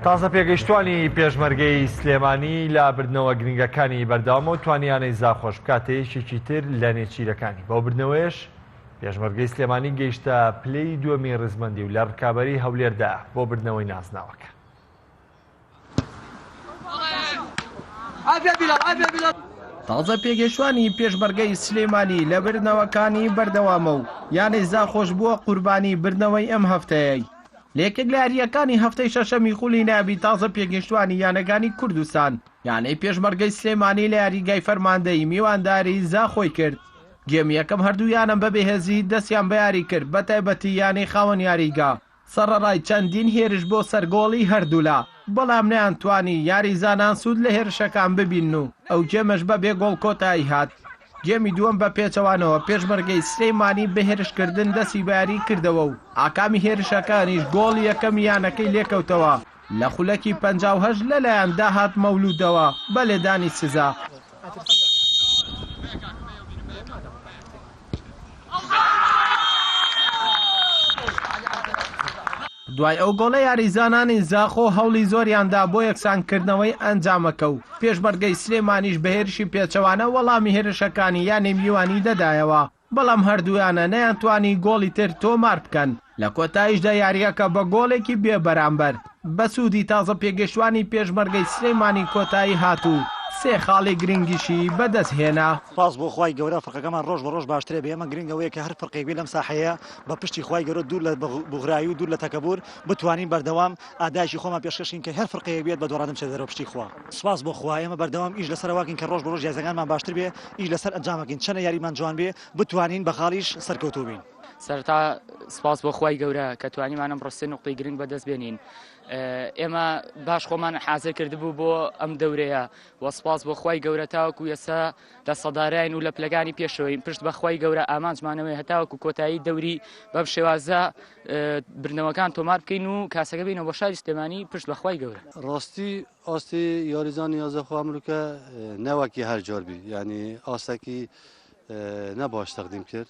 تازە پێگەیشتووانی پێشمەرگەی سلێمانی لە بردنەوە گرنگەکانی بەردەوامە و توانیانەی زاخۆش بکاتە یەکێکی تر لە نێچیرەکانی بەو بردنەوەیش پێشمەرگەی سلێمانی گەیشتە پلەی دووەمی ڕزمەندی و لە ڕکابەری هەولێردا بۆ بردنەوەی نازناوەکە. تازە پێگەشتوانی پێشمەرگەی سلێمانی لە بردنەوەکانی بەردەوامە و یانەی زاخۆش بووە قوربانی بردنەوەی ئەم هەفتەیەی لە یەکێک لە یارییەکانی هەفتەی شەشەمی خولی نایابی تازە پێگەیشتووانی یانەکانی کوردستان، یانەی پێشمەرگەی سلێمانی لە یاریگای فەرماندەیی میوانداری زاخۆی کرد، گێمی یەکەم هەردوو یانە بە بێهێزی دەستیان بە یاری کرد، بەتایبەتی یانەی خاوەن یاریگا سەڕەڕای چەندین هێرش بۆ سەر گۆڵی هەردوولا، بەڵام نەیانتوانی یاریزانان سوود لە هێرشەکان ببینن و ئەو گێمەش بە بێ گۆڵ کۆتایی هات. گێمی دووەم بە پێچەوانەوە پێشمەرگەی سلێمانی بە هێرشکردن دەستی بە یاریی کردەوە و ئاکامی هێرشەکانیش گۆڵی یەکەمی یانەکەی لێکەوتەوە لە خولەکی پەنجا و هەشت لەلایەن داهات مەولوودەوە بە لێدانی سزا. دوای ئەو گۆڵە یاریزانانی زاخۆ هەوڵی زۆریان دا بۆ یەکسانکردنەوەی ئەنجامەکە و پێشمەرگەی سلێمانیش بە هێرشی پێچەوانە وەڵامی هێرشەکانی یانەی میوانی دەدایەوە، بەڵام هەردوویانە نەیانتوانی گۆڵی تر تۆمار بکەن، لە کۆتاییشدا یارییەکە بە گۆڵێکی بێبەرامبەر بە سوودی تازە پێگەشتووانی پێشمەرگەی سلێمانی کۆتایی هات و سێ خاڵی گرنگیشی بەدەستهێنا. سوپاس بۆ خوای گەورە فرقەکەمان رۆژ بە رۆژ باشترە بێ ئەمە گرنگە وەیە کە هەر فرقێک بێ لەم ساحەیە بە پشتی خوای گەورە دوور لە بوغرایی و دوور لە تەکەبور بتوانین بەردەوام ئادایشی خۆمان پێشکەشکین کە هەر فرقەیەک بێت بە دۆڕادن بچێت دەرەوە پشتی خوا سوپاس بۆ خوا ئێمە بەردەوام ئیش لەسەر واکەین کە ڕۆژ بە ڕۆژ یاریزەکانمان باشتر بێ ئیش لەسەر ئەنجامەکەین چەنە یاریمان جوان بێ بتوانین بە خاڵیش سەرکەوتوو بین. سەرەتا سپاس بۆ خوای گەورە کە توانیمان ئەمڕۆ سێ نوقتەی گرنگ بەدەست بێنین ئێمە باش خۆمان حازر کردبوو بۆ ئەم دەورەیە و سپاس بۆ خوای گەورە تاوەکو یەسا دەسەڵداراین و لە پلەکانی پێشەوەین پشت بەخوای گەورە ئامانجمانەوەی هەتاوەکو کۆتایی دەوری بەم شێوازە برنەوەکان تۆمار بکەین و کاسەکە بینە بۆ شاری سلێمانی پشت بەخوای گەورە ڕاستی ئاستی یاریزانی یازەخوا مرکە نەوەکی هەر جۆربی ینی ئاسەکی نەباش تەقدیم کرد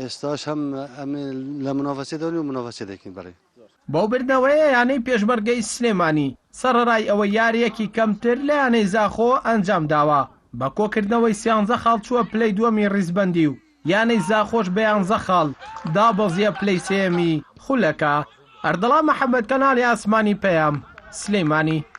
ئێستاش هەم ئەمێ لە منۆڤەسێ دەونی و منۆڤەسێ دەکەین بەڕێ. بەو بردنەوەیە یانەی پێشمەرگەی سلێمانی سەڕەرای ئەوەی یارییەکی کەمتر لە یانەی زاخۆ ئەنجامداوە، بە کۆکردنەوەی سیانزە خاڵ چووە پلەی دووەمی ڕیزبەندی و یانەی زاخۆش بە یانزە خاڵ دابەزییە پلەی سێیەمی خولەکە. ئەردەڵان محەمەد، کەناڵی ئاسمانی پەیام، سلێمانی.